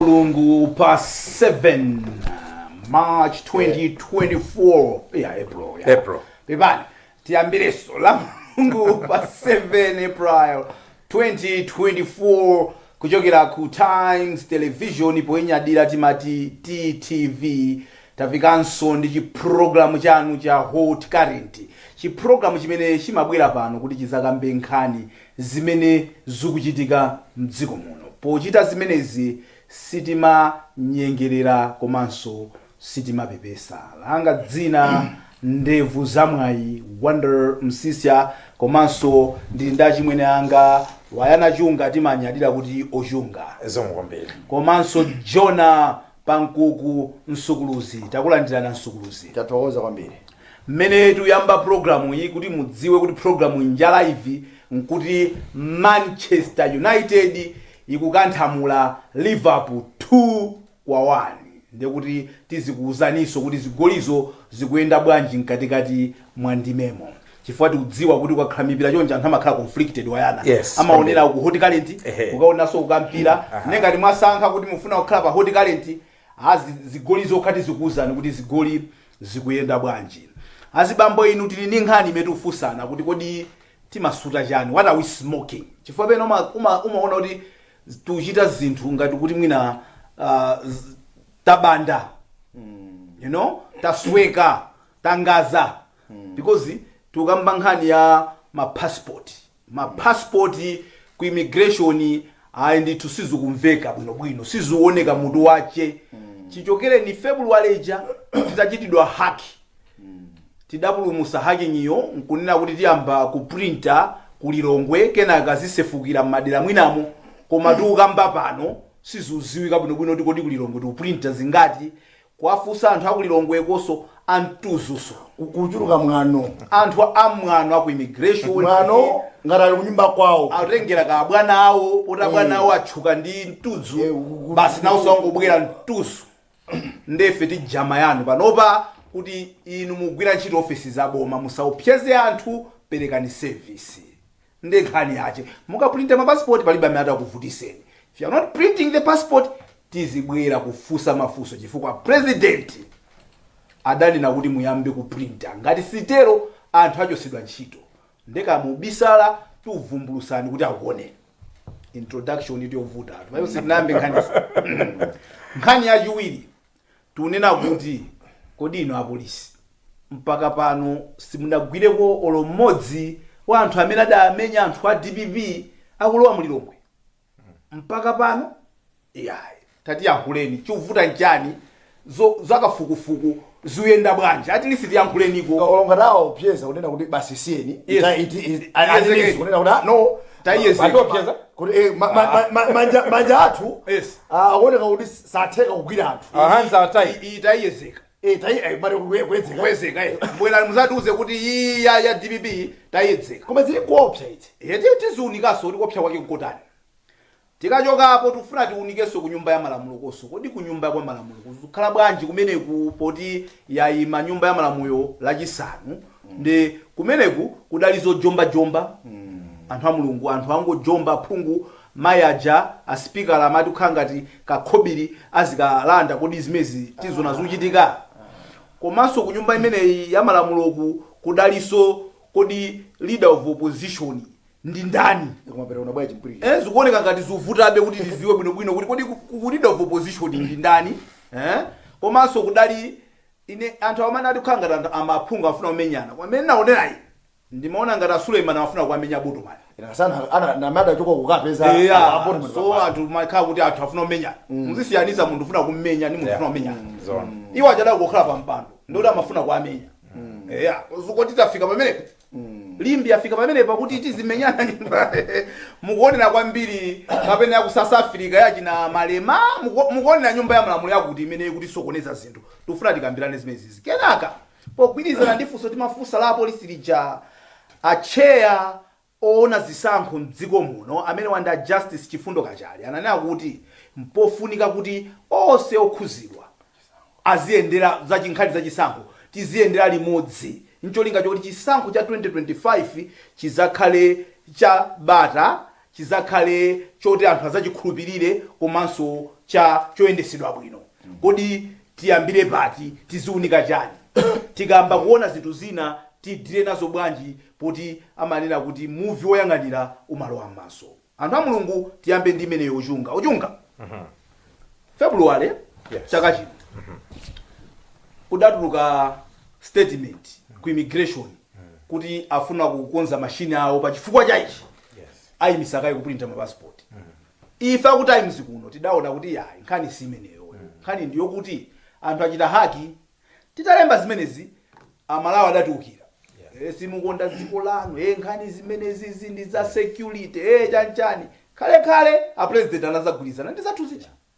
mulungu pa 7 march 2024 ya april ya. April. pepani tiyambireso la mulungu pa 7 april 2024 kuchokera ku times television poyinyadira timati ttv tafikanso ndi chiprogramu chanu cha hot current chiprogramu chimene chimabwera pano kuti chizakambe nkhani zimene zukuchitika mdziko muno. Pochita zimenezi sitimanyengerera komanso sitimapepesa. Langa dzina Ndevu za Mwayi, Wonder Msiska komanso ndili ndi achimwene anga Wayana Chunga timanyadira kuti Ochunga. Zikomo kwambiri. Komanso Jona Pankuku msukuluzi takulandirana msukuluzi tathokoza kwambiri mmene tikuyamba program iyi kuti mudziwe kuti program inja live nkuti manchester united ikukanthamula liverpool 2 kwa 1 ndekuti tizikuwuzaninso kuti zigolizo zikuyenda bwanji mkatikati mwa ndimemo chifukwa tikudziwa kuti kukakhala mipira chonje anthu amakhala conflicted wayana Yes, amaonera ku hot current Ehe. ukaonanso kukampira ne ngati mwasankha kuti mufuna kukhala pa hot current zigolizo tizikuwuzani kuti zigoli zikuyenda bwanji azibambo inu tili ndi nkhani imene tikufunsana kuti kodi timasuta chani what are we smoking chifukwa pena uma- uma- umaona kuti tuchita zinthu ngati kuti mwina ah, z- tabanda you know tasweka taganjika because tikukamba nkhani ya mapassport mapassport ku immigration ayi ndithu sizikumveka bwinobwino sizikuwoneka mutu wake chichokere ni february ija titachitidwa haki tidapulumusa hakingiyo nkunena kuti tiyamba kuprinta kulilongwe kenaka zisefukira m'madera enamo koma tikukamba pano sizikuziwika bwinobwino kuti kodi kulilongwe tikuprinta zingati Kuwafunsa anthu aku Lilongwekonso amtudzunso. Kuchuluka mwano. Anthu amwano aku immigration. Mwano ngati ali kunyumba kwawo. Atengera kwa abwana awo poti abwana awo atchuka ndi mtudzu basi nawoso angobwera mtudzu nde ife tijama nanu panopa kuti inu mugwira ntchito ofesi za boma musaopseze anthu perekani service Nde nkhani yache mukaprinta ma passport palibe amene atakuvutiseni. If you are not printing the passport tizibwera kufusa mafuso chifukwa president adanena kuti muyambe kuprinta ngati sitero anthu achosedwa ntchito. Nde kaya mubisala tikuvumbulutsani kuti akuoneni. Introduction ndi yovuta anthu. Mayo sitinayambe nkhani. Nkhani yachiwiri Tikunena kuti kodi inu apolisi mpaka pano simunagwireko olo mmodzi wa anthu amene adamenya anthu a dpp akulowa mu Lilongwe mpaka pano? Iyayi. Tatiyankhuleni chikuvuta nchani zakafukufuku zikuyenda bwanji at least tiyankhuleniko. Olo ngati awaopseza kunena kuti basi isiyeni Yes. ita iti iti- Yes, ali- yes. aliniso kunena kuti ah, no Ta yes, yes. atiopseza kuti eh, ma- ma- ma- ma- manja manja athu Yes. ah, akuoneka kuti satheka kugwira anthu Our hands are tied. Iyi- iyi tayiyezeka Eh, tayi- eh, kuye- kuyedzeka. kuyezeka eh. bwerani muzatiuze kuti iyi ya ya dpp tayiyezeka koma zili kuopsa iti tiziunikanso kuti kuopsa kwake nkotani tikachokapo tikufuna tiunikenso ku nyumba ya malamulo konso kodi ku nyumba ya malamulo kuzikhala bwanji kumeneku poti yayima nyumba ya malamulo lachisanu ndi kumeneku kudali zojombajomba anthu a mulungu anthu angojomba phungu Mai aja a sipikala amati kukhala ngati kakhobili azikalanda kodi zimezi tizona zikuchitika? Komaso kunyumba imeneyi yamalamulo kudaliso kodi leader of opposition ndi ndani? Eh zikuoneka ngati zuvutabe kuti tiziwe bwino bwino kuti kodi ku leader of opposition ndi ndani eh komaso kudali ine anthu awa amati kukhala ngati maphungu akufuna kumenyana koma mmene ndinaonela ine Ndimaona ngati a Suleiman amafuna kuwamenya Botomani. Ena sana ana namada choka kukapeza Eya, a- a Botomani so papa. anthu makhala kuti anthu afuna kumenyana. Muzisiyanitsa munthu ufuna kummenya ndi munthu ufuna kumenyana. Zona. Iwo aja adakhala pa mpando ndiye kuti amafuna kuwamenya. Eya, kodi tafika pamenepo? Limbi afika pamenepo kuti tizimenyana nyumba. Mukuonera kwambiri kapena ya ku South Africa ya achina Malema muku- mukuonera nyumba ya malamulo yakuti imene ikutisokoneza zinthu. Tikufuna tikambirane zimenezi. Kenaka Pogwirizana ndi funso timafunsa la apolisi lija, a Tcheya owona zisankho m'dziko muno amenewa ndi a Justice Chifundo Kachale ananena kuti mpofunika kuti onse okhuzidwa aziyendera za nkhani za chisankho tiziyendera limodzi ncholinga choti chisankho cha 2025 chizakhale cha bata chidzakhale choti anthu adzachikhulupirire komanso cha- choyendetsedwa bwino. Kodi tiyambire pati? Tiziunika chani? Tikayamba kuona zinthu zina tidile nazo bwanji poti amanena kuti muvi woyang'anira umalowa m'maso? Anthu a Mulungu tiyambe ndi imeneyo ochunga. Ochunga, February Yes. chaka chino kudatuluka statement ku immigration kuti afuna kukonza mashini awo pa chifukwa cha ichi ayimitsa kaye kupulinta ma passport ife aku times kuno tidaona kuti yayi nkhani si imeneyo nkhani ndiyo kuti anthu achita haki titalemba zimenezi amalawi adatiukira Eh, simukonda dziko lanu eh, nkhani zimenezi izi ndi za security eh, chanchani khalekhale a president anazagwirizana ndi zathu zija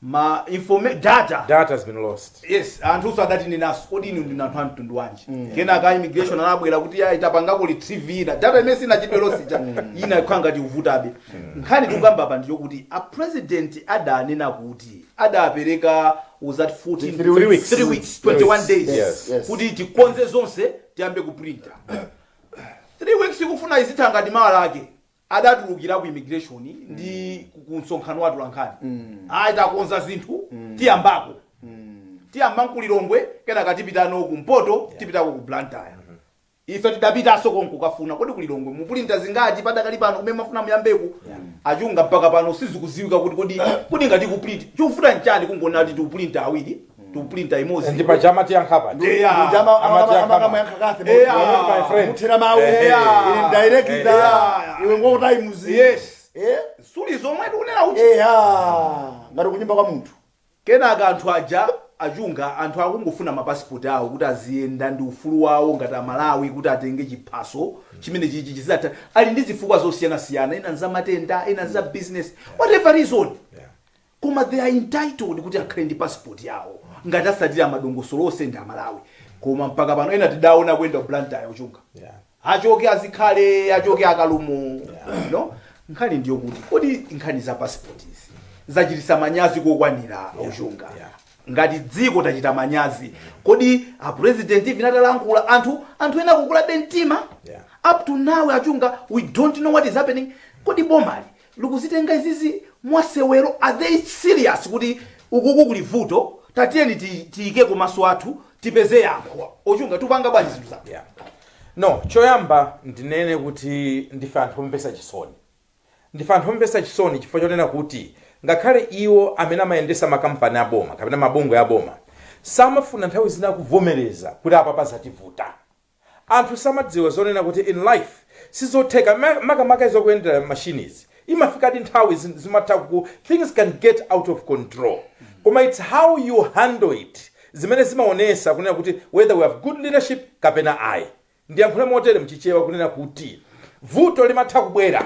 kuti data data has been lost yes anthuso adatinenaso kodi inu ndinu anthu a mtundu wanji kenaka a immigration anabwera kuti ya itapangako retrieve ina data imene inachite lost ija ina ikhala ngati ikuvutabe nkhani tikukamba apa ndiyo kuti a president adanena kuti adapereka was that 14 Three weeks. three weeks Three 21 weeks. days Yes. Yes. kuti tikonze zonse tiyambe kuprinta three weeks ikufuna izitha ngati mawa lake adatulukira ku immigration ndi ku- ku msonkhano wa atolankhani ayi takonza zinthu tiyambako tiyamba nkulilongwe kenaka tipitano kumpoto tipitako ku blantyre ife tidapitanso konko kukafuna kodi kulilongwe muprinta zingati padakali pano kumene mafuna muyambeko achunga mpaka pano sizikuziwika kuti kodi kodi ngati kuprinta chikuvuta nchani kungona kuti tikuprinta awiri tikuprinta imodzi ndi paja amatiyankha pa Eya. Munthu ama- ama- Amati ama- akama. amayankha kafe Eya. mwa- mwa- My friend. muthira mawu Ehe. Eya. Indirect, Eya. iwe ngokutayimuzi Yes. Eh? suli zomwe tikunena uchi eya ngati kunyumba kwa munthu kenaka anthu aja achunga anthu akungofuna mapasipoti awo kuti aziyenda ndi ufulu wawo ngati amalawi kuti atenge chiphaso chimene chichi chizata ali ndi zifukwa zosiyanasiyana ina za matenda ina za business whatever reason Koma they are entitled kuti akhale ndi passport yawo ngati asatira madongosolo onse ndi amalawi koma mpaka pano ena tidaona kuyenda ku blantyre achunga Yeah. achoke azikhale achoke akalumo Yeah. no nkhani ndiyo kuti kodi nkhani za passport izi zachitisa manyazi kokwanira achunga yeah. ngati dziko tachita manyazi kodi a president even atalankhula anthu anthu ena kukulabe mtima Yeah. up to now achunga we don't know what is happening kodi bomali likuzitenga izizi mwasewero are they serious kuti ukuku kuli vuto tatiyeni ti- tiyikeko maso athu tipeze yankho achunga tupanga bwanji zinthu zako yeah. no choyamba ndinene kuti ndife anthu omvesa chisoni ndife anthu omvesa chisoni chifukwa chonena kuti ngakhale iwo amene amayendesa makampani aboma kapena mabungwe aboma samafuna nthawi zina kuvomereza kuti apa patativuta Anthu samadziwa zonena kuti in life sizotheka makamaka izi zokuyendera machines imafikadi nthawi zi zimatha kuku things can get out of control koma its how you handle it zimene zimaonesa kunena kuti whether we have good leadership kapena ayi. Ndiyankhule motere mchichewa kunena kuti. Vuto limatha kubwera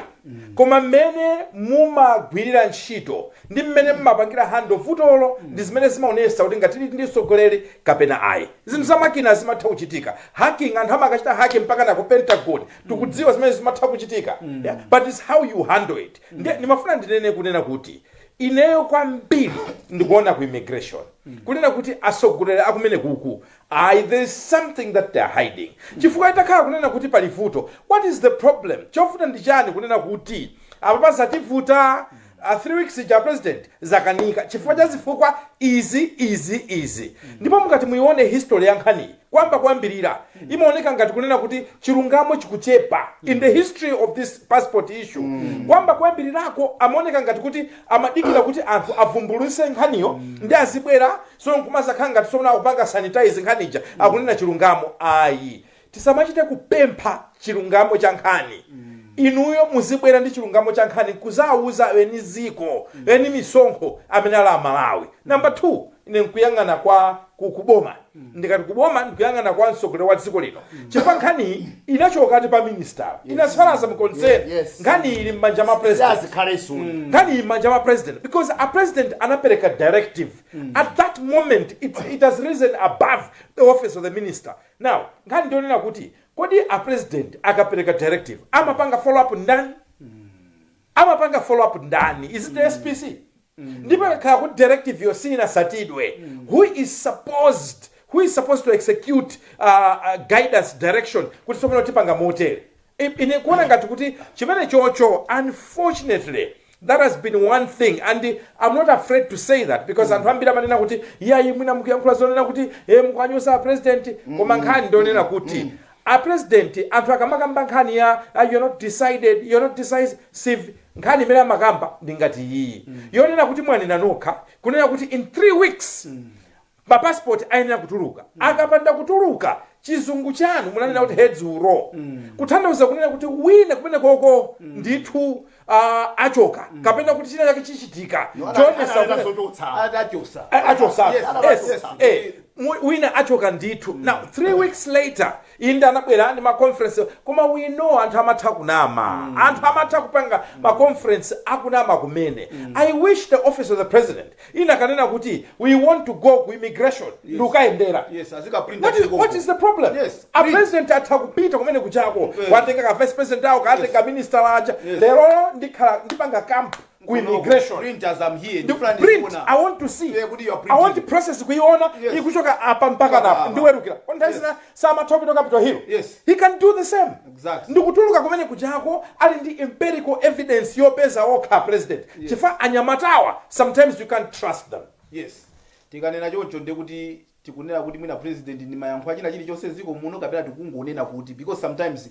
koma mmene mumagwirira ntchito ndi mmene mumapangira handle vutolo ndi zimene zimaonesa kuti ngati tili ndi mtsogoleri kapena ayi. Zinthu za makina zimatha kuchitika. Hacking anthu amakachita hack mpakana ku Pentagon. Tikudziwa zimenezo zimatha kuchitika yeah but it's how you handle it. Ndiye ndimafuna ndinene kunena kuti ineyo kwambiri ndikuona ku immigration kunena kuti atsogoleri akumenekuku Ayi, there is something that they are hiding. Chifukwa itakhala kunena kuti pali vuto, what is the problem? Chovuta ndi chani kunena kuti apapa zativuta, a 3 weeks ija a president zakanika chifukwa cha zifukwa izi, izi, izi. Ndipo mukati muyione history ya nkhaniyi kuyamba kuyambirira, imaoneka ngati kunena kuti chilungamo chikuchepa in the history of this passport issue. Kuyamba kuyambirirako amaoneka ngati kuti amadikira kuti anthu avumbulutse nkhaniyo nde azibwera so nkumadzakhala ngati tsopano akupanga sanitize nkhani ija akunena chilungamo ayi tisamachite kupempha chilungamo cha nkhani inuyo muzibwera ndi chilungamo cha nkhani nkudzawauza eni dziko eni misonkho amene ali aMalawi number 2 ine nkuyang'ana kwa ku- kuboma ndikati kuboma ndikuyang'ana kwa mtsogoleri wa dziko lino chifukwa nkhaniyi inachokati pa minister inasalaza mkonseni Yes, yes. nkhani ili m'manja ma president siazikhalenso nkhani m'manja ma president because a president anapereka directive mm. at that moment it, it has risen above the office of the minister now nkhani ndi yonena kuti kodi a president akapereka directive amapanga follow up ndani mm. amapanga follow up ndani is it the mm. spc mm. ndipo ikakhala kuti directive yo siinatsatidwe mm. who is supposed who is supposed to execute uh, uh, guidance direction kuti tsopano tipanga motere I, ine nkuona ngati kuti chimene chocho unfortunately that has been one thing and i'm not afraid to say that because anthu ambiri amanena kuti iyayi mwina mukuyankhula zonena kuti e mukuwanyoza apresident koma nkhani ndi yonena kuti apresident anthu akamakamba nkhani ya ah, you're not decided you're not decisive nkhani imene amakamba ndi ngati iyiyi yonena kuti mwanena nokha kunena kuti in three weeks ma passport ayenera kutuluka akapanda kutuluka chizungu chanu munanena kuti heads will roll kutanthauza kunena kuti wina kumenekoko ndithu ah, achoka kapena kuti china chake chichitika No, ana- choonetsa ana- ana kuti- zototsa. atachotsa A- achotsa Yes, yes, yes. eh, mu- wina achoka ndithu now three weeks later inde anabwera ndi maconference koma we know anthu amatha kunama anthu amatha kupanga maconference akunama kumene i wish the office of the president inakanena kuti we want to go ku immigration yes. ndikukayendera yes. what, is, what is the problem yes. a president atha kupita kumene kujako yes. awatenga ka vice president awo kaatenga yes. minister uja yes. lero ndikhala ndipanga camp ku immigration print as i'm here the plan print is i want to see yeah, i want the process kuiona yes. ikuchoka apa mpaka na ndiweruke kwa nthawi zina samatha kupita ku capital hill Yes. he can do the same Exactly. ndikutuluka kumene kujako ali ndi empirical evidence yopeza okha president Yes. chifukwa anyamatawa sometimes you can't trust them yes tikanena choncho ndiye kuti tikunena kuti mwina president ndi mayankho a china chilichonse mdziko muno kapena tikungonena kuti because sometimes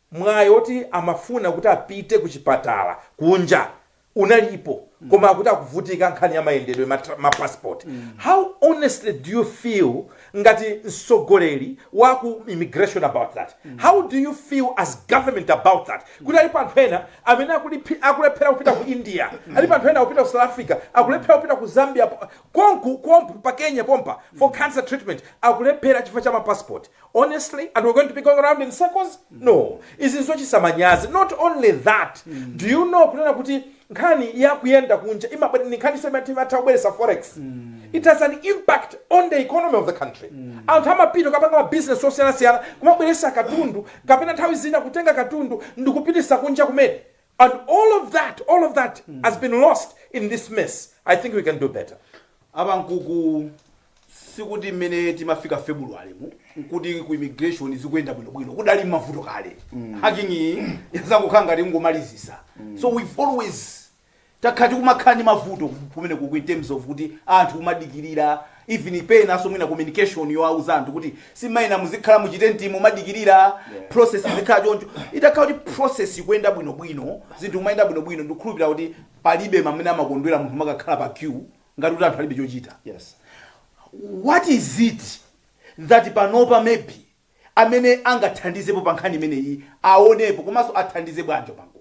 mwayi oti amafuna kuti apite kuchipatala kunja unalipo koma akuti akuvutika nkhani ya mayendedwe ma, tra- ma passport how honestly do you feel ngati mtsogoleri wa ku immigration about that how do you feel as government about that kuti alipo anthu ena amene akuliphi- akulephera kupita ku india alipo anthu ena akupita ku south africa akulephera kupita ku zambia po- konku kompu pa kenya pompa for cancer treatment akulephera chifukwa cha mapassport honestly and we're going to be going around in circles no izi nzochititsa manyazi not only that do you know kunena kuti nkhani yakuyenda kunja imabwera ndi nkhani semati imatha kubweretsa forex it has an impact on the economy of the country anthu amapita kukapanga mabusiness osiyanasiyana kumabweretsa katundu kapena nthawi zina kutenga katundu ndikupitisa kunja kumene And all of that, all of that has been lost in this mess. I think we can do better. a Pankuku sikuti mmene timafika february mu nkuti ku immigration zikuyenda bwinobwino kudali mavuto kale hacking iyi yazangokhala ngati kungomalizisa so we've always takhala tikumakhala ndi mavuto kumene kuku in terms of kuti anthu kumadikirira even penanso mwina communication yowauza anthu kuti simayenera muzikhala muchitentimu mumadikirira process izikhala choncho itakhala kuti process ikuyenda bwinobwino zinthu kumayenda bwinobwino ndikukhulupirira kuti palibe amene amakondwera munthu kumakakhala pa queue ngati kuti anthu alibe chochita yes what is it that panopa maybe amene angathandizepo pa nkhani imeneyi aonepo komanso athandize bwanji a Pankuku.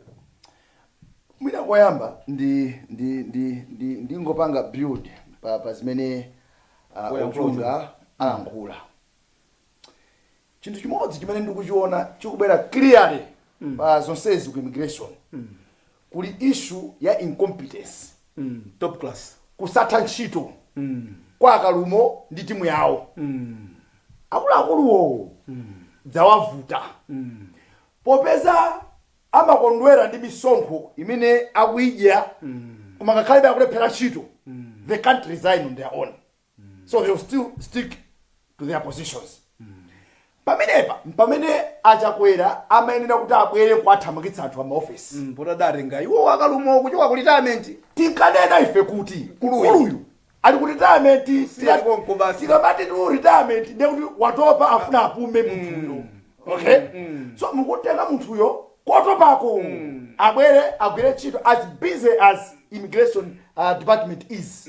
Mwina koyamba ndi ndi ndi ndi ndingopanga build pa pa zimene uh, Woyankhula ochunga alankhula. Chinthu chimodzi chimene ndikuchiona chikubwera clearly pa zonsezi ku immigration kuli issue ya incompetence, top class kusatha ntchito kwa a Kalumo ndi timu yawo akuluakuluwo dzawavuta popeza amakondwera ndi misonkho imene akuyidya koma ngakhalebe akulephera ntchito they can't resign on their own. so they will still stick to their positions pamenepa mpamene a Chakwera amayenera kuti abwere kuwathamangitsa anthu amaofesi Mm, poti adatenga iwo a Kalumo kuchoka ku retirement tinkanena ife kuti Mkuluyu. mkuluyu ali ku retirement tira- konko basi. tikamati ndi ku retirement ndiye kuti watopa afuna apume munthuyo okay so mukutenga munthuyo kotopako abwere agwire ntchito as busy as immigration uh, department is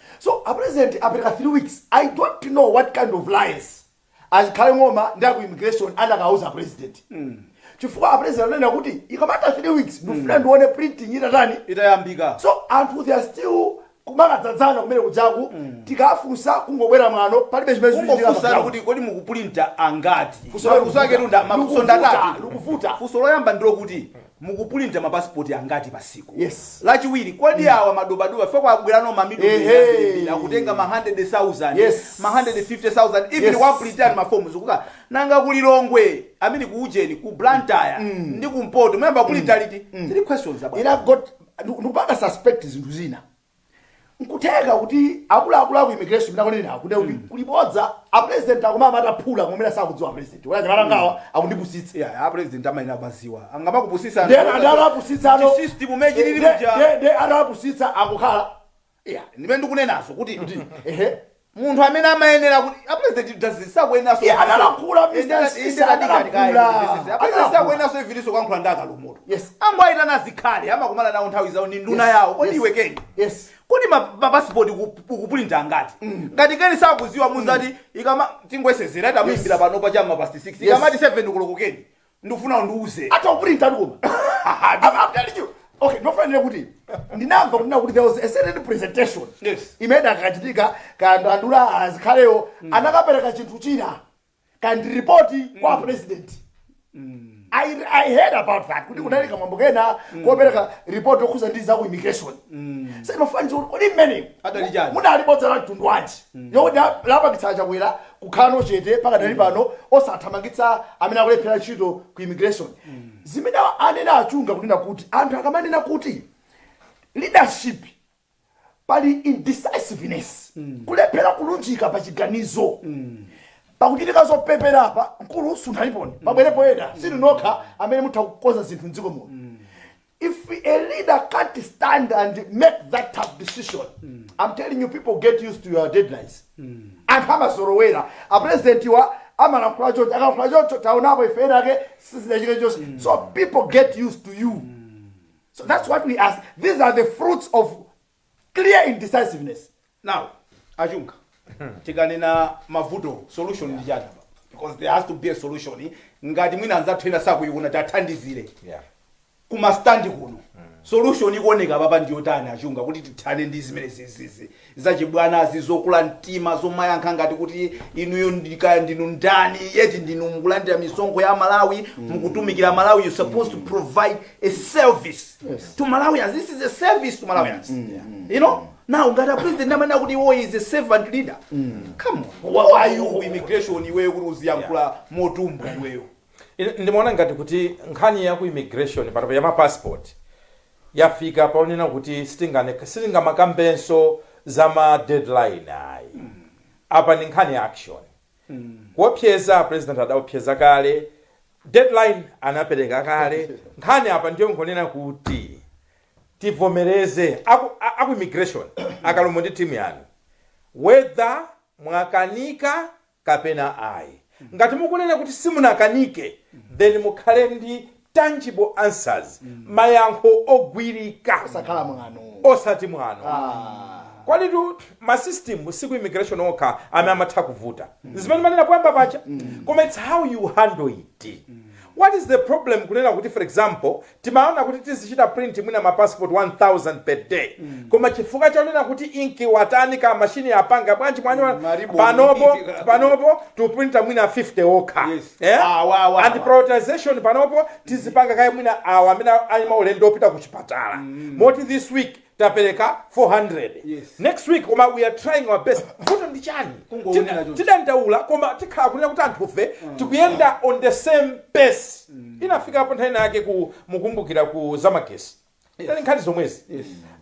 So a president apereka 3 weeks, I don't know what kind of lies a Zikhale Ng'oma ndi a ku immigration anakauza a president. Chifukwa a president ananena kuti ikamatha 3 weeks ndikufuna ndione printing itatani itayambika so anthu they are still kumakadzadzana kumene kujaku tikafunsa kungobwera mwano palibe chimene chikuchitika pa kungofunsana ground. kuti kodi mukupulinta angati Funso la mafunso ake likuvuta. tunda mafunso Likuvuta, ndatatu likuvuta. funso loyamba ndilokuti mukupulinta ma passport angati pa siku Yes. lachiwiri kodi Mm. awa madobadoba fe kwabwerano mamiliyoni Ehe. ambirimbiri akutenga ma 100,000 Yes. ma 150,000 even Yes. wapulitani ma forms kuka nanga ku Lilongwe I mean ku ujeni ku Blantyre Mm. ndi ku Mpoto muyamba kupulinta liti three questions about ine got ndikupanga suspect zinthu zina. nkutheka kuti akuluakulu aku immigration mwina kunena kuti kuti kuli bodza a president akumamata phula kumene sakudziwa president wala nyamala ngawa akundipusitsa Yeah, a president amayenera kumadziwa akamakupusitsa then adawapusitsa ano system mechi lili Nde- muja nde- nde adawapusitsa akukhala yeah ndimene ndikunenazo kuti ehe munthu amene amayenera kuti a president doesn't sakuyeneranso Iye analankhula, Mr. Inde- Sisi, inde katika- katika- analankhula. this is- a president Analankhula. sakuyeneranso evenso kuyankhula ndi a Kalumotu Yes. angoayitana a Zikhale amakumana nawo nthawi zawo ni nduna Yes. yawo kodi Yes. iwe Ken yes kodi ma- mapasipoti uku- ukupulinta angati ngati Ken sakuziwa muzati ikama tingoyesezera tamuyimbira panopa cha m'ma past 6 Yes. ikamati 7 koloko Ken ndikufuna undiuze atha kupulintatu koma I'm- I'm telling you. okay ndinofanira kuti ndinamva kunena kuti there was a certain presentation Yes. imene idakachitika kanthu anduna a Zikhalewo anakapereka chinthu china kaya ndi ripoti kwa president I, I heard about that kuti kunali kamwambo kena kopereka report yokhuza ndi za ku immigration sinofanira kuti kodi mmene Adali chani? munali bodza la mtundu wanji yokuti lapangitsa Chakwera kukhalano chete pakadali pano osathamangitsa amene akulephera ntchito ku immigration zimene anena a Chunga kunena kuti anthu akamanena kuti leadership pali indecisiveness kulephera kulunjika pa chiganizo pakuchitika zopepera apa mkulu sunthaniponi pabwerepo ena si inu nokha amene mutha kukonza zinthu mdziko muno if a leader can't stand and make that tough decision i'm telling you people get used to your deadlines anthu amazolowera apurezidentiwa amalankhula choncho akalankhula choncho taonapo ife ena ake sizidachitike chonse so people get used to you so that's what we ask these are the fruits of clear indecisiveness now a Chunga tikanena mavuto solution ndi chani apa? because there has to be a solution ngati mwina anzathu ena sakuyiona tathandizire Yeah. kumastandi kuno solution ikuoneka papa ndiyotani a Chunga kuti tithane ndi zimene zizizi zachibwanazi zokula mtima zomayankha ngati kuti inuyo ndikaya ndinu ndani yet ndinu mukulandira misonkho ya Amalawi mukutumikira Amalawi you supposed to provide a service Yes. to malawians this is a service to malawians you know now ngati a president amanena kuti iye is a servant leader come on who are you ku immigration iweyo kuti uziyankhula motumbwa iweyo Ine- ndimaona ngati kuti nkhani ya ku immigration panopa ya ma passport yafika paonena kuti sitingane- sitingamakambenso za ma deadline ayi apa ndi nkhani ya action Kuopseza president adaopseza kale, deadline anapereka kale, nkhani apa ndiyongonena kuti tivomereze aku immigration a Kalumo ndi team yanu whether mwakanika kapena ayi. Ngati mukunena kuti simunakanike then mukhale ndi tangible answers mayankho ogwirika osakhala mwano osati mwano kwalitu ma system siku immigration okha amene amatha kuvuta zimene mumanena poyamba paja koma its how you handle it what is the problem kunena kuti for example timaona kuti tizichita print mwina ma passport 1000 per day koma chifukwa chonena kuti inki watani kapena mashini yapanga bwanji mwanyo Maribu. panopo tikuprinta mwina 50 okha Yes. Eh? Awa, awa, and awa. prioritization panopo tizipanga kaye mwina awa amene ali maulendo opita ku chipatala moti this week tapereka 400 Yes. next week koma we are trying our best vuto ndi chani Kungoonera Tida- choncho. tidandaula koma tikhala kunena kuti anthufe tikuyenda on the same pace inafikapo nthawi inayake mukukumbukira ku zamagetsi inali nkhani zomwezi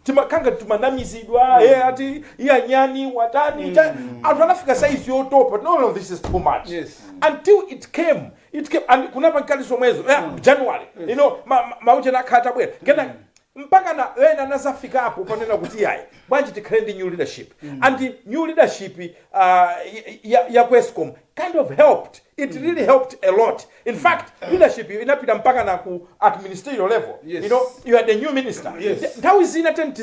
timakhala timanamizidwa eh, ati iya anyani watani cha- anthu anafika saizi yotopa no no this is too much Yes. until it came it came and kunali nkhani zomwezo eh, january you know ma- ma- mauche nakhala tabwera kenako mpakana ena anazafikapo ponena kuti ayi bwanji tikhale ndi new leadership and new leadership uh, ya, ya ku ESCOM kind of helped it mm. really helped a lot in mm. fact mm. leadership inapita mpakana ku at ministerial level yes. you know you are the new minister yes. nthawi zina ten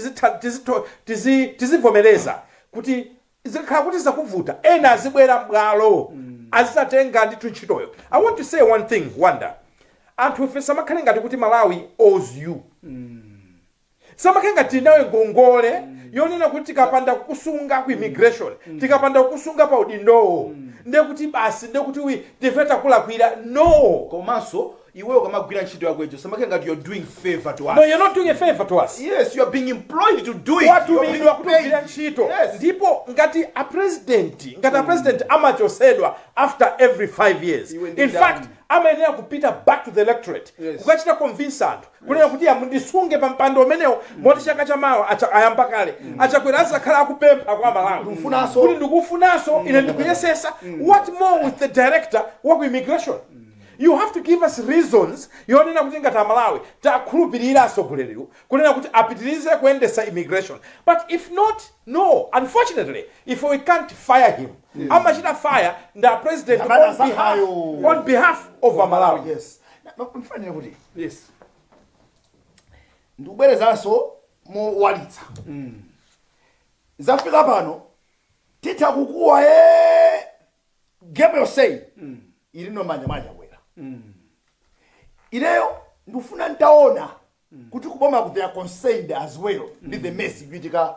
tizivomereza kuti zikakhala kuti zakuvuta ena azibwera m'bwalo mm. azizatenga ndithu ntchitoyo i want to say one thing wonder anthu ife usamakhale ngati kuti malawi owes you mm. usamakhale ngati tili nawe ngongole yonena kuti tikapanda kukusunga ku immigration tikapanda kukusunga pa udindowo ndiye kuti basi ndiye kuti wi- ndife takulakwira no komanso iwe ukamagwira ntchito yako ijo usamakhale ngati you're doing favor to us no you're not doing a favor to us yes you're being employed to do it You're being Watumidwa kuti paid. ugwire ntchito yes ndipo ngati a president ngati a president amachotsedwa after every five years Iwe ndi in ndani? fact amayenera kupita back to the electorate Yes. kukachita convince anthu kunena kuti ya mundisunge pa mpando umenewo moti chaka cha mawa acha- ayamba kale achakwera azakhala akupempha kwa amalawi Ndikufunanso. kuti ndikufunanso ine ndikuyesesa what more with the director wa ku immigration you have to give us reasons yonena kuti ngati amalawi takhulupirira asogoleriwo kunena kuti apitirize kuyendesa immigration but if not no unfortunately if we can't fire him amachita fire ndi a president Amene on behalf, asankhayo. on behalf of amalawi yes mfanira kuti yes ndikubwerezanso mowalitsa zafika pano titha kukuwa e game yoseyi ili no mmanja mwa achakwera ineyo ndikufuna ntaona kuti kuboma ku they are concerned as well ndi the mess ikuchitika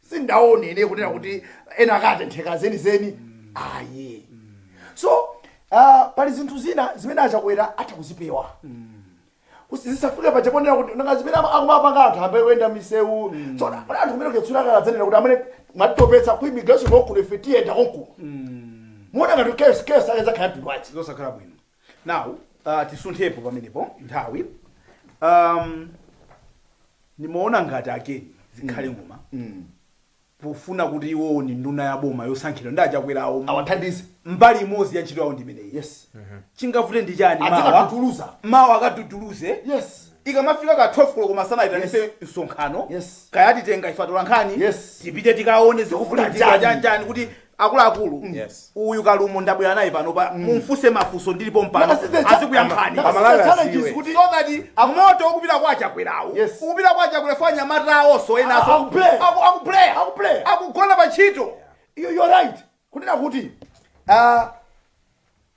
sindaone ine kunena kuti ena akatentheka zenizeni ayi so ah, pali zinthu zina zimene achakwera atha kuzipewa Kusi- zisafike paja ponena kuti nanga zimene ama- akumapanga anthu ayambe kuyenda misewu so kuti anthu kumene kuyetsula kaladzanena kuti amene mwatitopetsa ku immigration konkuno ife tiyenda konkuno muona ngati kesi kesi ake zakhala mtundu wanji zosakhala bwino now uh, tisunthepo pamenepo nthawi um, ndimaona ngati a ken zikhale ng'oma pofuna kuti iwowo ni nduna ya boma yosankhidwa ndi achakwera awo awathandize mbali imodzi ya ntchito yawo ndimeneyi yes chingavute ndi chani mawa adzikatutuluza mawu akatutuluze yes ikamafika ka 12 koloko masana ayitanise Yes. msonkhano Yes. kaya titenga ife atolankhani Yes. tipite tikaone zikufunika Kufunika chani. chanjani kuti akuluakulu mm. yes. uyu kalumo ndabwera naye panopa mm. mumfuse mafuso ndili pompano azikuyankhani moto ukupita kwa chakwerawo yes. ukupita kwa chakwera for anyamata awonso enaso akuplaya akugona pa ntchito yeah. you're right kunena kuti uh,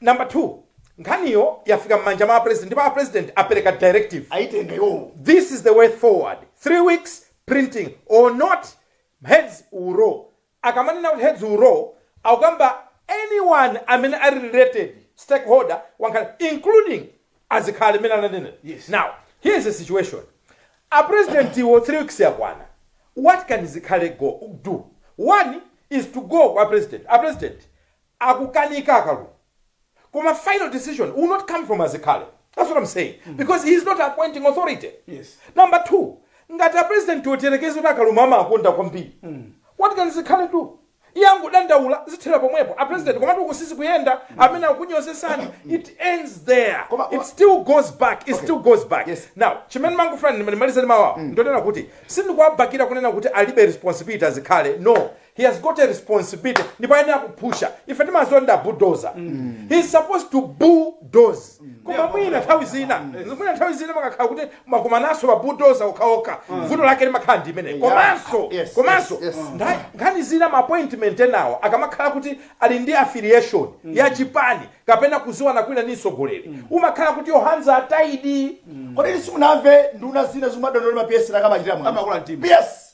Number 2, nkhaniyo yafika mmanja mwa a president ndipo a president apereka directive ayitenga iwowo. This is the way forward 3 weeks printing or not heads will roll. Akamanena kuti heads will roll akukamba anyone amene ali related stakeholder wankhani including azikhale amene ananena. Yes. Now here is the situation. A president wo 3 weeks yakwana. What can zikhale do? One is to go kwa president. A president akukanika akalumo koma final decision will not come from azikhale that's what am saying because he is not appointing authority Yes. number two ngati a president wo tiyerekeze kuti akalumo amawakonda kwambiri what can zikhale do iye angodandaula zithera pomwepo a president komatu uku sizikuyenda amene akunyozesani it ends there Koma- it koma- still goes back it still goes back Yes. now chimene mangofuna ndimalizeni mawa ndonena kuti sindikuwabakira kunena kuti alibe responsibility azikhale no he has got a responsibility ndipo ayenera kuphusha ife timaziwa ndi a bulldozer he is supposed to bulldoze koma mwina nthawi zina mwina nthawi zina mukakhala kuti mwakumananso ma bulldozer okhaokha vuto lake limakhala ndi imene komanso Yes, komanso yes, yes. ntha- nkhani zina ma appointment enawo akamakhala kuti ali ndi affiliation ya chipani kapena kuziwana kwina ndi mtsogoleri umakhala kuti your hands are tied kodi inu simunamve nduna zina zimadandaula ma PS akamachitira mwano Amakula mtima. yes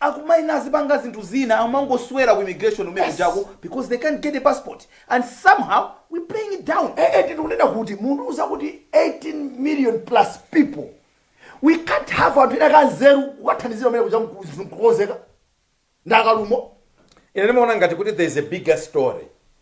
akumaena azipanga zinthu zina amangoswera ku immigration kumene Yes. kujako because they can't get a passport and somehow we playing it down Eh, eh, tikunena kuti mundiuza kuti 18 million plus people we can't have anthu enaake anzeru kukathandizira kumene kuja kukonzeka ndakalumo ine ndimaona ngati kuti there is a bigger story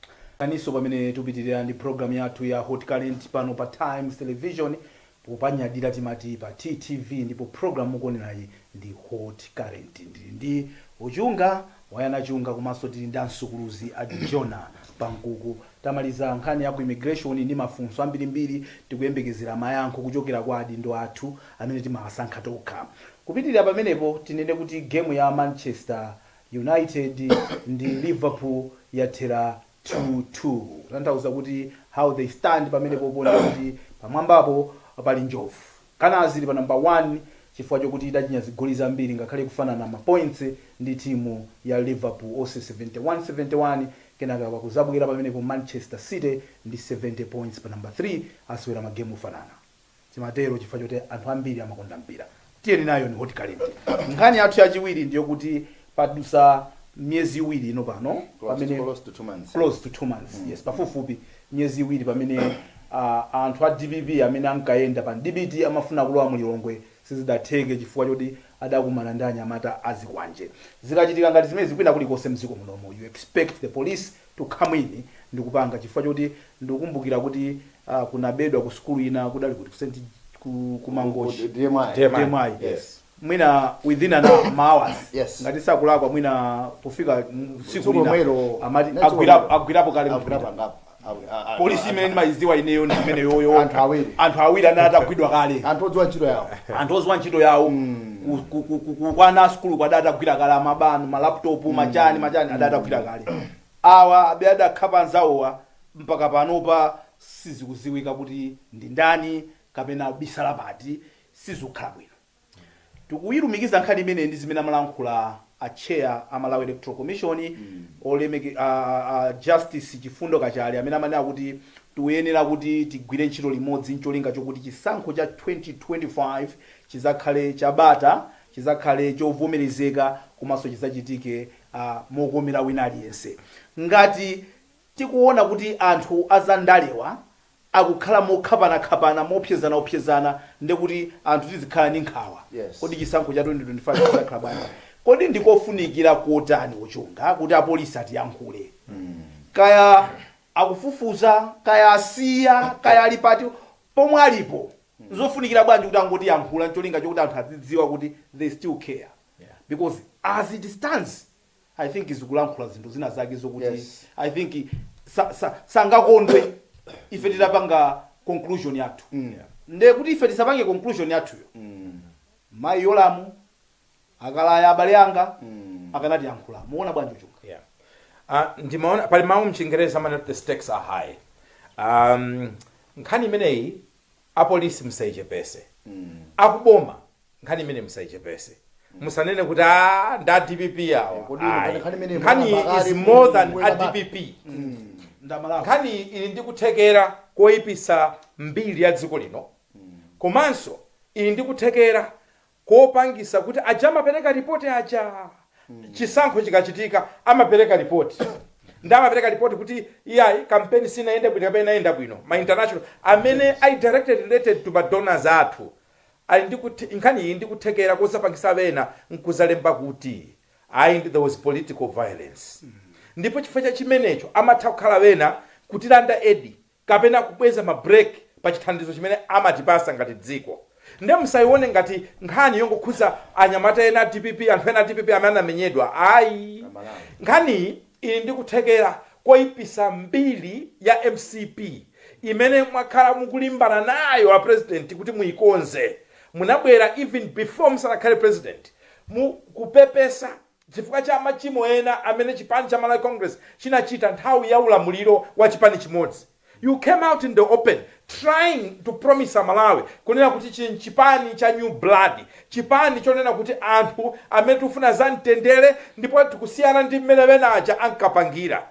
Takulandiraninso pamene tupitilira ndi program yathu ya Hot Current pano pa Times Television popanyadira timati pa TTV ndipo program mukuonerayi ndi Hot Current ndili ndi Ochunga Wayana Chunga komanso tili ndi a Msukuluzi a Jonah Pankuku. Tamaliza nkhani ya ku immigration ndi mafunso ambirimbiri tikuyembekezera mayankho kuchokera kwa adindo athu amene timawasankha tokha. Kupitilira pamenepo tinene kuti game ya Manchester United ndi Liverpool yathera 2 2 kutanthauza kuti how they stand pamenepo pano ndi kuti pamwambapo pali njovu. Gunners ili pa number 1 chifukwa chokuti idachinya zigoli zambiri ngakhale ikufanana ma points ndi timu ya Liverpool onse 71 71 kenaka pakuzabwera pamenepo Manchester City ndi 70 points pa number 3 asewera ma game ofanana. Timatero chifukwa choti anthu ambiri amakonda mpira. Tiyeni nayo ndi Hot Current. Nkhani yathu yachiwiri ndi yokuti padusa miyezi iwiri ino pano pamene close to two months close to two months mm. yes pafupifupi miyezi iwiri pamene uh, anthu a dpp amene ankayenda pa Mbowe amafuna kulowa mu Lilongwe sizidatheke chifukwa choti adakumana ndi anyamata azikwanje zikachitika ngati zimenezi kwina kulikonse mdziko munomu you expect the police to come in ndikupanga chifukwa choti ndikukumbukira kuti uh, kunabedwa ku sukulu ina kudali kuti ku St. ku, ku Mangochi DMI. DMI. DMI. Yes. mwina within an hour, ma hours Yes. ngati sindikulakwa mwina pofika mm, siku Tsiku lina lomwelo. amati Next agwirapo one. agwirapo kale Agwira mtunda. pangapo. Awi- a- a- polisi a- imene ndimayiziwa ineyo ndi imeneyoyo Anthu awiri. anthu awiri anali atagwidwa kale anthu odziwa ntchito yawo anthu oziwa ntchito yawo ku, ku, ku, ku, ku, kwa ana a sukulu kuja adatagwira kale amabawo malaptop machani machani adatagwira kale awa abe adakhapa anzawowa mpaka panopa sizikuziwika kuti ndi ndani kapena abisala pati sizikhala bwino tikuyilumikiza nkhani imeneyi ndi zimene amalankhula a chair a Malawi Electoral Commission olemeke a a Justice Chifundo Kachale amene amanena kuti tiyenera kuti tigwire ntchito limodzi ncholinga chokuti chisankho cha 2025 chizakhale cha bata chizakhale chovomerezeka komanso chizachitike a mokomera wina aliyense ngati tikuona kuti anthu a za ndalewa akukhala mokhapanakhapana, moopsezanaopsezana nde kuti anthu tizikhala ndi nkhawa. Yes. Kodi chisankho cha 2025 chidzakhala bwanji? Kodi ndi kofunikira kotani, a Chunga, kuti apolisi atiyankhule? Kaya akufufuza, kaya asiya, kaya ali pati, pomwe alipo, nzofunikira bwanji kuti angotiyankhula ncholinga chokuti anthu adzidziwa kuti they still care? Because as it stands, i think zikulankhula zinthu zina zake zokuti Yes. i think sa- sa- sangakondwe ife titapanga conclusion yathu nde kuti ife tisapange conclusion yathuyo mayi Yolamu a Kalaya abale anga akanatiyankhula muona bwanji a Chunga Yeah. Uh, ndimaona pali mawu mchingereza amene the stakes are high um, nkhani imeneyi Apolisi musaichepese akuboma nkhani imeneyi musaichepese musanene kuti aa nda a dpp awo Eh, kodi ino ayi nkhani imeneyi nkhani is more than kuti a wela ba- dpp ndamalawi nkhaniyi ili ndi kuthekera koyipisa mbiri ya dziko lino komanso ili ndi kuthekera kopangisa kuti aja amapereka report aja chisankho chikachitika amapereka report nde amapereka report kuti iyayi kampeni sinayende bwino kapena inayenda bwino ma international amene ali directly related to ma donors athu ali ndi kuthe nkhani iyi ndi kuthekera kozapangisa ena nkuzalemba kuti ayi there was political violence ndipo chifukwa cha chimenecho amatha kukhala ena kutilanda aid kapena kubwezako ma break pa chithandizo chimene amatipasa ngati dziko nde musayione ngati nkhani yongokhuza anyamata ena a dpp anthu ena a dpp amene anamenyedwa ayi nkhaniyi ili ndi kuthekera koyipisa mbiri ya mcp imene mwakhala mukulimbana nayo a president kuti muyikonze munabwera even before musanakhale president mukupepesa Chifukwa cha machimo ena amene chipani cha Malawi Congress chinachita nthawi ya ulamuliro wa chipani chimodzi, you came out in the open trying to promise Amalawi kunena kuti chino nchipani cha new blood, chipani chonena kuti anthu amene tikufuna za mtendere ndipo tikusiyana ndi mmene ena aja ankapangira.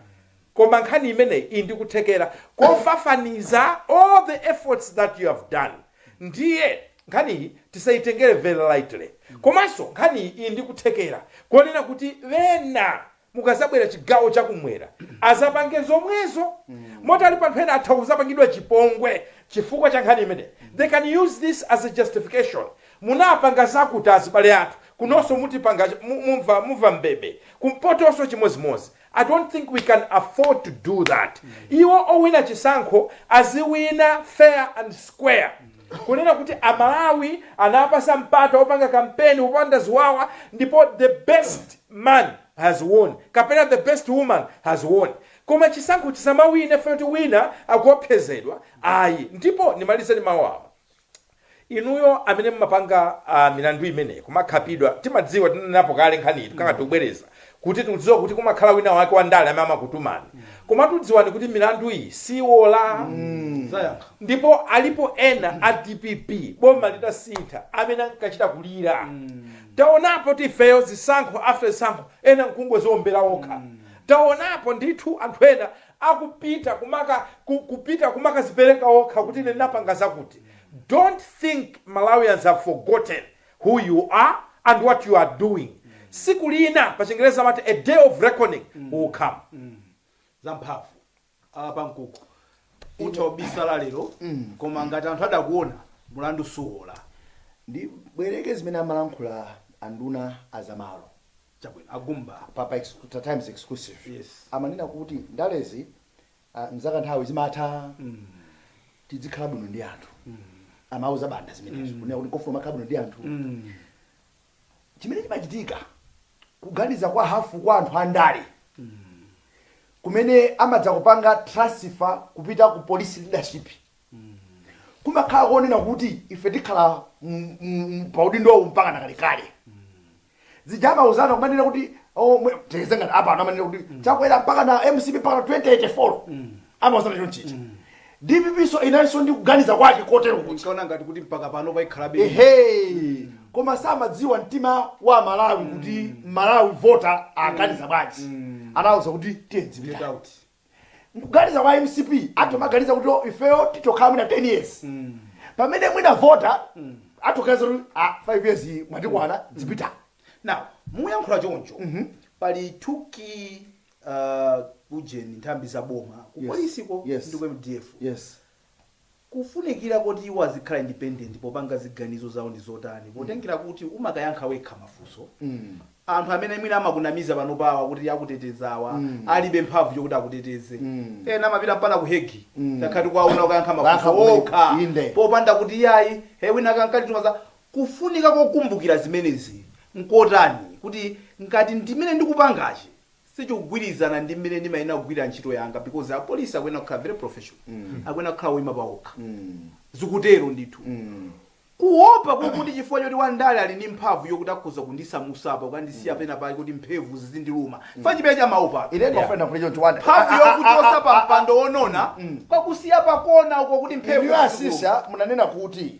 Koma nkhani imeneyi ili ndi kuthekera kofafaniza all the efforts that you have done ndiye nkhaniyi tisayitengere very lightly komanso nkhaniyi ili ndi kuthekera konena kuti ena mukazabwera chigawo cha kumwera azapange zomwezo moti alipo anthu ena atha kuzapangidwa chipongwe chifukwa cha nkhani imeneyi they can use this as a justification munapanga zakuti azibale athu kunonso mutipanga mumva mbebe kumpotonso chimodzimodzi I don't think we can afford to do that. Iwo owina chisankho aziwina fair and square. Kunena kuti Amalawi anapatsa mpata opanga kampeni opanda ziwawa ndipo the best man has won kapena the best woman has won. Koma chisankho chisamawinidwe kuti wina akuopsezedwa ayi. Ndipo ndimalize ndi mawu awa. inuyo amene mumapanga uh, milandu imene kumakhapidwa timadziwa tinanenapo kale nkhaniyi tikungo mm. tikubwereza kuti tikudziwa kuti kumakhala wina wake wa ndale amene amakutumani mm. koma dziwani kuti milandu iyi siwola mm. ndipo alipo ena a dpp boma litasintha amene ankachita kulira mm. taonapo tifeyo zisankho after zisankho ena nkungoziombera okha mm taonapo ndithu anthu ena akupita kumaka ku kupita kumakazipereka okha kuti ine ndinapanga zakuti dont think malawians have forgotten who you are and what you are doing tsiku lina pachingerezi amati a day of reckoning will come zamphamvu apa nkuti utha kubisala lero koma ngati anthu adakuona mlandu suwola ndibwereke zimene amalankhula anduna azamalo Chabwino a Gumba. Pa pa exclu Times exclusive Yes. amanena kuti ndalezi ah, nzakanthawi zimatha tidzikhala bwino ndi anthu amauza banda zimenezo kunena kuti kofunika kumakhala bwino ndi anthu chimene chimachitika kuganiza kwa hafu kwa anthu andale kumene amadzakupanga transfer kupita ku police leadership kumakhala konena kuti ife tikhala m- m- m- pa udindo uwu mpaka nakalekale zija amauzana kumanena kuti oh, mwe- tiyeze ngati apa anthu amanena kuti chakwera mpaka na mcp mpaka na 2084 amauzana chonchicha dpp nayo inalinso ndi kuganiza kwake kotero kuti ndikaona ngati kuti mpaka pano payikhalabe ehe koma samadziwa mtima wa mmalawi kuti mmalawi vota aganiza bwanji anauza kuti tiyedzipita out nkuganiza kwa mcp atomaganiza kuti "Oh, ifeyo titokhala mwina 10 years pamene mwina vota atoganiza kuti "Ah, 5 years iyi mwatikwana dzipitani now muyankhula choncho pali two key uh, ujeni nthambi za boma ku Yes. polisiko Yes. ndi ku mdf yes Kufunikira koti iwo azikhala independent popanga ziganizo zawo ndi kotani potengera kuti umakayankha wekha mafunso? Anthu amene mwina amakunamiza panopa kuti akutetezawa alibe mphamvu yokuti akuteteze. Ena amapita mpaka ku Hegi takhala tikuwaona kukayankha mafunso okha popanda kuti iyayi he wina ankatituma za. Kufunika kokumbukira zimenezi nkotani kuti ngati ndimene ndikupangachi sichikugwirizana ndi mmene ndimayenera kugwirira ntchito yanga because apolisi akuyenera kukhala very professional, akuyenera kukhala oima paokha. Zikutero ndithu. Kuopa kwakuti chifukwa choti Wandale ali ndi mphamvu yokuti akhoza kundisamusa apa kukandisiya penapake kuti mphemvu zizindiluma, chifukwa chimene chamaopacho, Ine Yeah. ndimafuna ndiyankhulecho kuti wanda. mphamvu yokuchotsani pa mpando wonona, kukakusiyani pakona uko kuti mphemvu Inuyo zizikuluma. asisa munanena kuti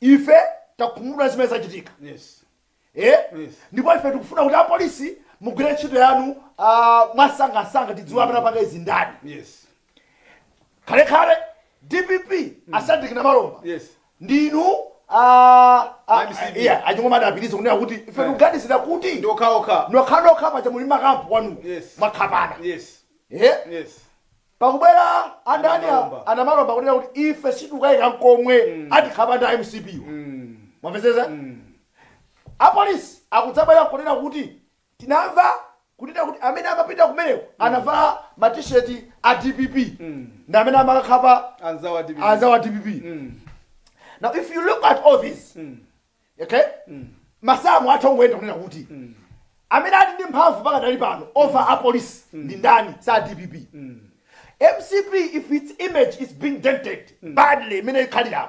Ife takhumudwa ndi zimene zachitika ndipo ife tikufuna kuti apolisi mugwire ntchito yanu mwansangansanga tidziwe amene apanga izi ndani. Kalekale dpp a Shadric Namalomba ndi inu a a Ching'oma adapitiriza kunena kuti ife tikuganizira kuti nokhanokha paja muli mmakampu kwanuko mwakhapana. Pakubwera a ndani a Namalomba kunena kuti ife sitikukayika nkomwe atikhapa ndi a mcp wo. Mwamvetsetsa? Apolisi akudzabwera nkunena kuti tinamva kunena kuti amene amapita kumeneko anavala ma t-shirt a dpp ndi amene amakakhapa anzawo a dpp. Now if you look at all these, okay masamu atha kungoyenda kunena kuti amene ali ndi mphamvu pakadali pano over apolisi ndi ndani si a dpp mcp if its image is being dented badly imene ikhaliramo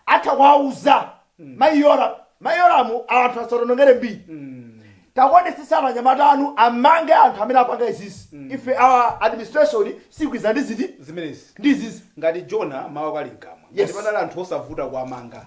atha kuwauza mayi Yolamu anthu asationongere mbiri taonetsetsani anyamata anu amange anthu amene apanga izizi ife our administration sikwiza ndi ziti zimenezi ndi izizi ngati tiona mawu akali mkamwa Yes. ngati padali anthu osavuta kuwamanga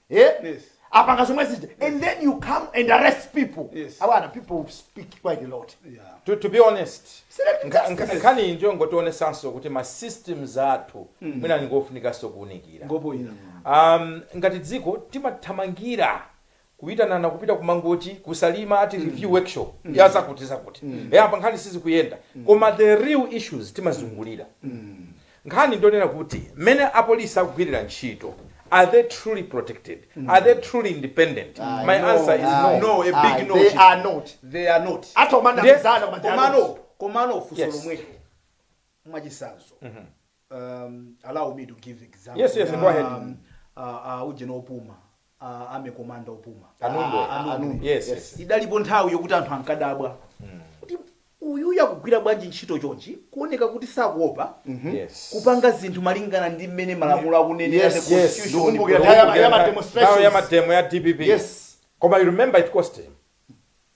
eh? Yes. apanga zomwe zija and then you come and arrest people Yes. abana people speak quite a lot Yeah. to, to be honest Selective nka- nka- justice. nkhani iyi ndiyongotionesanso kuti ma systems athu mwina ngofunikanso kuunikira Ngopo ina. um, ngati dziko timathamangira kuyitanana kupita kumangochi kusalima ati review workshop ya zakuti zakuti mm. apa nkhani sizikuyenda koma the real issues timazungulira Nkhani ndiyonena kuti mmene apolisi akugwirira ntchito are they truly protected? Are they truly independent? My answer is no, no, a big no. They are not. Ndiye komano, komano funso lomweli mwachisanzo allow me to give example ya ujeni opuma. a army commander opuma Kanundu. A- a- Kanundu. Yes, yes. idalipo nthawi yokuti anthu ankadabwa kuti uyuyu akugwira bwanji ntchito chonchi kuoneka kuti sakuopa Yes. kupanga zinthu malingana ndi mmene malamulo akunenera Yes, the yes. constitution. Ndikumbukira Ndikumbukira nthawi ya ma- ya ma nthawi ya demonstrations. mademo ya dpp Yes. koma you remember it cost him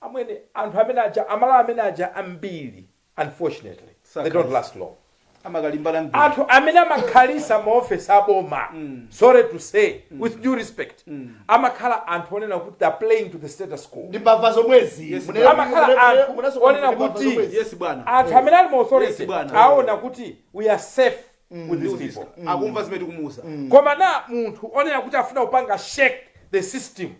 Amwene anthu amene aja amalawa amene aja ambiri unfortunately they don't last long anthu amene amakhalisa ma office a boma sorry to say with due respect amakhala anthu onena kuti they are playing to the status quo amakhala anthu onena kuti anthu amene ali mu authority aona kuti we are safe with these people koma na munthu onena kuti afuna kupanga shake the system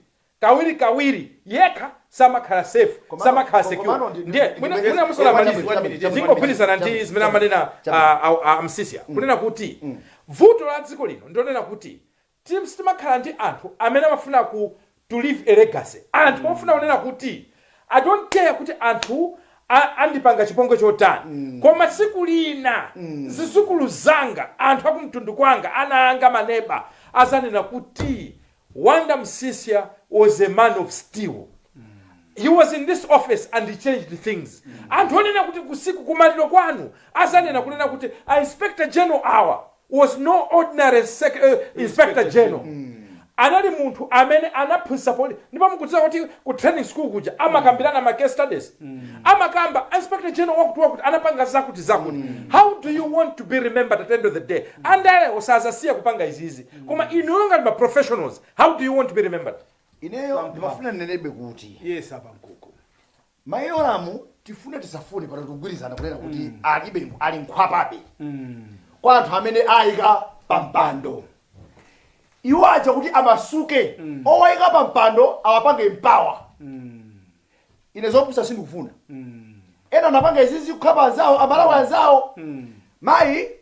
kawirikawiri yekha samakhala safe, Komano- samakhala ko- secure. komano ndi- Ndiye ndi- mwina ndi- mwina ndi- musanamalize, ndi- ndi- ndi- ndingogwirizana ndi ndi- zimene amanena che. a- a- a Msisia kunena kuti vuto la dziko lino ndionena kuti tim- sitimakhala ndi anthu amene amafuna ku to leave a legacy. Anthu ofuna kunena kuti I don't care kuti anthu a- andipanga chipongwe chotani koma tsiku lina zizukulu zanga anthu akumtundu kwanga ana anga maneba azanena kuti Wonder Msisya was a man of steel. He was in this office and he changed things. Anthu onena kuti kusiku kumaliro kwanu azanena kunena kuti a Inspector General awa was no ordinary sec, uh, Inspector General. Anali munthu amene anaphunzitsa polisi ndipo mukudziwa kuti ku training school kuja amakambirana ma case studies. Amakamba Inspector General wakuti wakuti anapanga zakuti zakuti. How do you want to be remembered at the end of the day? Andale osazasiya kupanga izizi. Koma inuyo ngati ma professionals how do you want to be remembered? Ineyo Pam, pam. ndimafuna ndinenebe kuti Yes apa mkoko. mayi Yolamu tifune tisafune pano tikugwirizana kunena kuti alibe ali mkhwapabe kwa anthu amene ayika pampando iwo aja kuti amasuke owayika pampando awapange empower ine zopusa sindikufuna ena anapanga izizi kukhapa anzawo amalawi anzawo mayi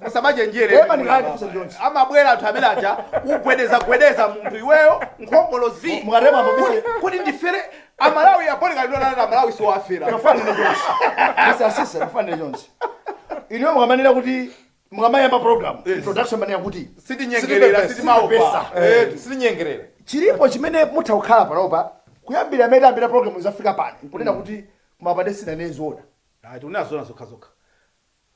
musamachenjere Pepa ndi ndikhala ndifunse Jones. amabwera anthu amene aja kugwedeza gwedeza munthu iweyo nkhongolozi Mu- mukatepa mubise- Kuti- kuti ndifere amalawi apolika ndonana amalawi siwafera Mufanire Jones. Mr. Msisya, mufanire Jones. Inuyo mukamanena kuti mukamayamba program introduction manena kuti sitinyengerera sitimaopa sitipepesa. Eh, sitinyengerera chilipo chimene mutha kukhala panopa kuyambira amene tidayambira program zafika pano kunena kuti kumapande sinanene zoona tifuna zoona zokhazokha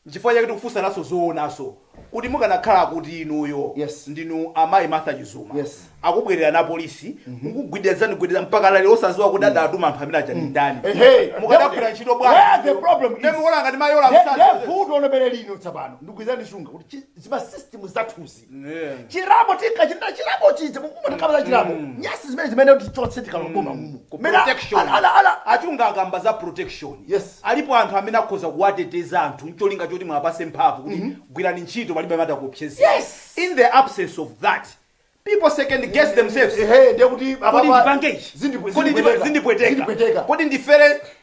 Nchifukwa chake tikufunsanso zoonanso kuti mukanakhala kuti inuyo Yes. ndinu amayi Martha Chizuma Yes. akubwererani apolisi kukugwedezani gwedeza mpaka lero osaziwa kuti adatuma anthu amene aja ndi ndani Ehe. mukadagwira ntchito Where bwanji the problem is- Ndi mmene mukuona ngati mayi Yola Ye- msasa. ye vuto lobere lino tsapano ndikugwirizana ndi shunga kuti chi- zima system zathuzi chirabo tinkachita chirabo chija mukumatakapata chirabo nyasi zimene zimene tichotse tikaloboma mumu Mene- protection. ala- ala- ala- achunga akamba za protection Yes. alipo anthu amene akhoza kuwateteza anthu ncholinga choti muwapatse mphamvu kuti gwirani ntchito palibe amene atakuopsezeni Yes. in the absence of that people second guess themselves ehe ndiye kuti kodi apapa ndipange ichi zindipwe- Kodi ndipa- zindipweteka. zindipweteka Zindipweteka. kodi ndifere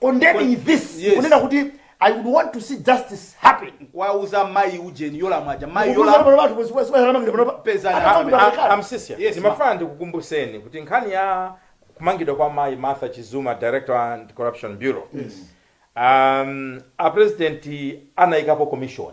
condemning Kwa- this yes. kunena kuti i would want to see justice happen kuwauza mayi ujeni Yolamu aja mayi Kukuza Yolamu pano panthu, kukuza pano panthu, pano panthu. Pezani. Ana panthu Ah, pamekani. amsisya Yes, ndimafuna ndikukumbuseni kuti nkhani ya kumangidwa kwa mayi martha chizuma director anti corruption bureau um, apresidenti anayikapo commission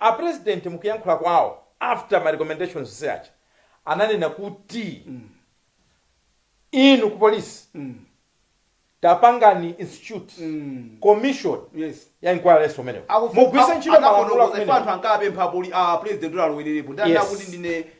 A president mukuyankhula kwawo after ma recommendations onse aja ananena kuti inu ku police tapangani institute commission Yes. ya inquiryinso imeneyo mugwiritse ntchito malamulo anafotokoza ife anthu kumenewo ankapempha kuti a president kuti alowererepo ndi Yes. anakuti ndine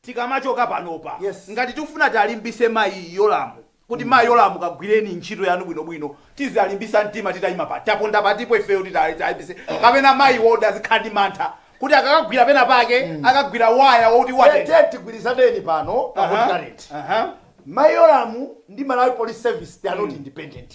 tikamachoka panopa Yes. ngati tikufuna tiwalimbitse mayi yolamu kuti mayi yolamu kagwireni ntchito yanu bwinobwino tizawalimbisa mtima titayima pati taponda patipo ifeyo titawalimbitse kapena mayiwoda azikhala ndi mantha kuti akakagwira pena pake akagwira waya woti watentha tete tigwirizaneni pano pa Aha, hot current aha. mayi yolamu ndi malawi police service they are not independent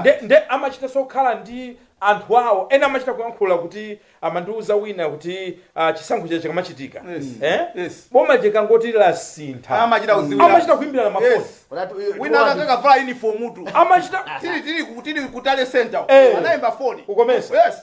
nde nde amachita sokhala ndi anthu awo ena amachita kuyankhula kuti amandiuza wina kuti ah, chisankho chija chikamachitika Yes. eh? Yes. bomadi likangoti lasintha Amachita kudziwira. amachita kuimbirana mafoni Yes. Unati- iwe- wina iwe- akanavala uniform tu amachita tili tili ku- tili ku tally center Eh. anayimba foni Ukomesa. yes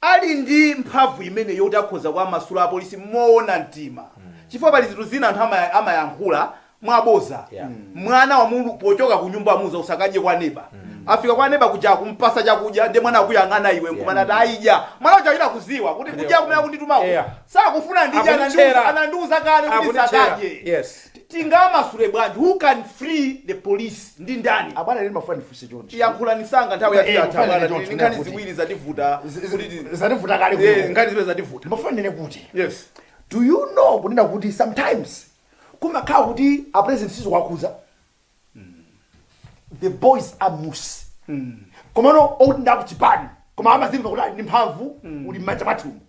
Ali ndi mphamvu imeneyi yoti akhoza kuwamasula apolisi moona mtima chifukwa pali zinthu zina anthu ama, amayankhula mwabodza Yeah. mwana wa munthu pochoka ku nyumba amuuza usakadye kwa neba afika kwa neba kuja kumpasa chakudya ndiye mwana akuyang'ana iwe nkumanati ayi idya mwana uja achita kuziwa kuti kuja kumene akunditumaku Yeah. sakufuna ndidya Akunditchera. anandiuza- anandiuza kale kuti Akunditchera. sakadye Yes. Tingawamasule bwanji? Who can free the police? Ndi ndani? Abwana ine ndimafuna ndifunse chonchi. Yankhulani msanga nthawi yathu Eh, yatha kufanana abwana. choncho, Tili ndi nkhani kuti- ziwiri zativuta. Z- z- Kuti ti- zativuta kale Eh, kuno. nkhani ziwiri zativuta. Ndimafuna ndinene kuti. Yes. Do you know kunena kuti sometimes kumakhala kuti a president sizikuwakhudza. the boys are loose komano oti ndi akuchipani koma amazimva kuti ali ndi mphamvu ili mmanja mwathumu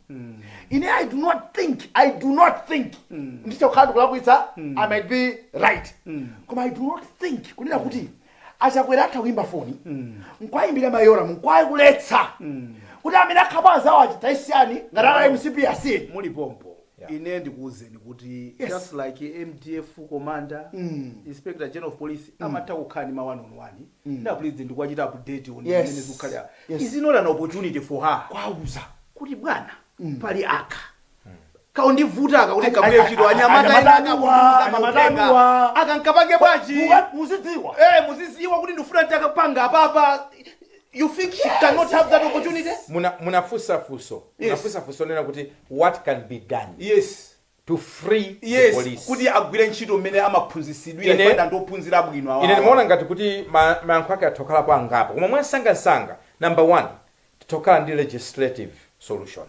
ine i do not think i do not think nditha kukhala ndikulakwitsa i might be right koma i do not think kunena kuti achakwera atha kuyimba foni nkwayimbira mayi yolamu nkuwaletsa kuti amene akhapa anzawo ajawa asiyeni ngati ali a mcp asiyeni muli pompo Yeah. ine ndikuwuzeni kuti Yes. just like mdf commander Mm. inspector general of police amatha kukhala ndi ma one on one ndi a president ndikuwachita update on Yes. zimene zikukhala Yes. is not an opportunity for her kuwauza kuti bwana pali aka kakundivuta aka kuti Ay- kabuye ay- chito ay- anyamata ena anyamatanuwa, akakutumiza anyamatanuwa. mauthenga akamkapange bwanji Muwa- muzidziwa Eh, muziziwa kuti ndifuna ndakapanga apapa You think she cannot have that opportunity? Muna- munafunsa funso munafunsa funso onena kuti what can be done Yes. to free the Yes, police kuti agwire ntchito mmene amaphunzitsidwira Ine- chifukwa ndi ophunzira bwino awa. ine ndimaona ngati kuti ma- mayankho ake atha kukhalapo angapo koma mwansangansanga number one titha kukhala ndi legislative solution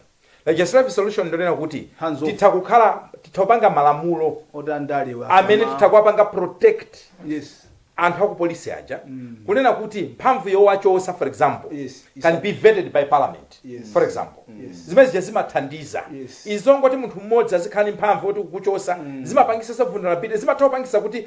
Legislative solution ndonena kuti Hands off. titha kukhala titha kupanga malamulo oti andale wa- amene titha kuwapanga protect yes anthu akupolisi aja kunena kuti mphamvu yowachosa for example Yes, yes. can be vetted by parliament Yes. for example Yes. zimene zija zimathandiza Yes. izongoti munthu mmodzi azikhala ndi mphamvu oti kukuchosa zimapangisa za vulnerability zimatha kupangisa kuti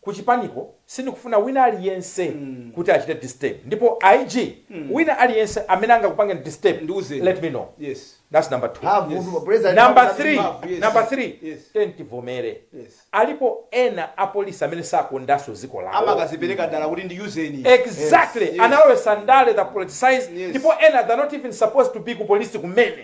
ku chipaniko sindikufuna wina aliyense kuti achite disturb ndipo IG wina aliyense amene angakupange disturb Ndiuzeni. let me know Yes. that's number two Mphamvu, Yes. president number mphamvu, three mphamvu, yes. number three Yes. tiyeni tivomere Yes. alipo ena apolisi amene sakondanso dziko lawo amakazipereka dala kuti ndiyuzeni exactly Yes, yes. analowesa ndale they politicize Yes. ndipo ena they're not even supposed to be ku polisi kumene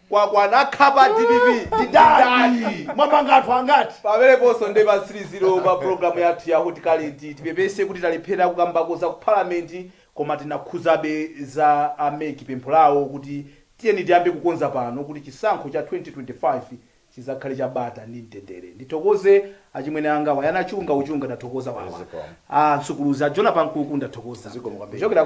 Kwakwana akhapa dpp ndi dad mwamanga anthu angati pameneponso nde pa 30 pa programu yathu ya hot current tipepese kuti talephera kukambako za ku parliament koma tinakhuzabe za a mec pempho lawo kuti tiyeni tiyambe kukonza pano kuti chisankho cha 2025 chizakhale cha bata ndi mtendere ndithokoze achimwene anga wayana chunga uchunga ndathokoza wawa Zikomo. a msukuluzi a jona pankuku ndathokoza Zikomo kwambiri. kuchokera